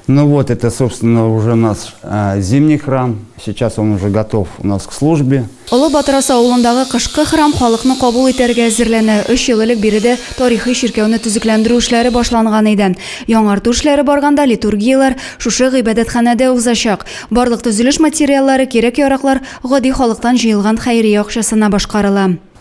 Ну вот это собственно уже нас зимний храм сейчас он уже готов у нас к службе. Олы Батырасы авылындагы кышкы храм халыкны кабул итәргә әзерләнә. Өч ел элек биредә тарихи чиркәүне төзекләндерү эшләре башланган иде. Яңарту эшләре барганда литургияләр шушы гыйбадәтханәдә узачак. Барлык төзелеш материаллары, кирәк-яраклар гади халыктан җыелган хәйрия акчасына башкарыла.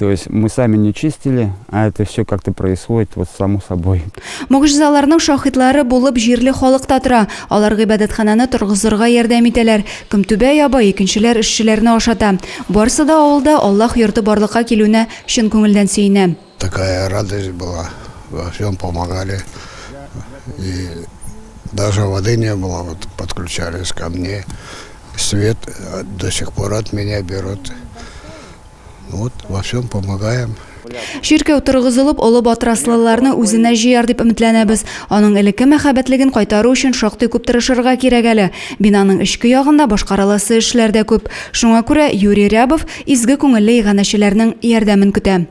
То есть мы сами не чистили, а это все как-то происходит вот само собой. Могжизаларның шахитлары булып җирле халык та тора. Алар гыйбадәтханәне торгызырга ярдәм итәләр. Көмтүбә яба, икенчеләр эшчеләрне ашата. Барсы да авылда Аллаһ йорты барлыкка килүенә чын күңелдән сөенә. Такая радость была, во всем помогали, и даже воды не было, вот подключались ко мне, свет до сих пор от меня берут, вот во всем помогаем. Чиркәү торгызылып, олы батраслыларны үзенә җыяр дип өметләнәбез. Аның элекке мәхәббәтлеген кайтару өчен шактый күп тырышырга кирәк әле. Бинаның эчке ягында башкарыласы эшләр дә күп. Шуңа күрә Юрий Рябов изге күңелле иганәчеләрнең ярдәмен көтә.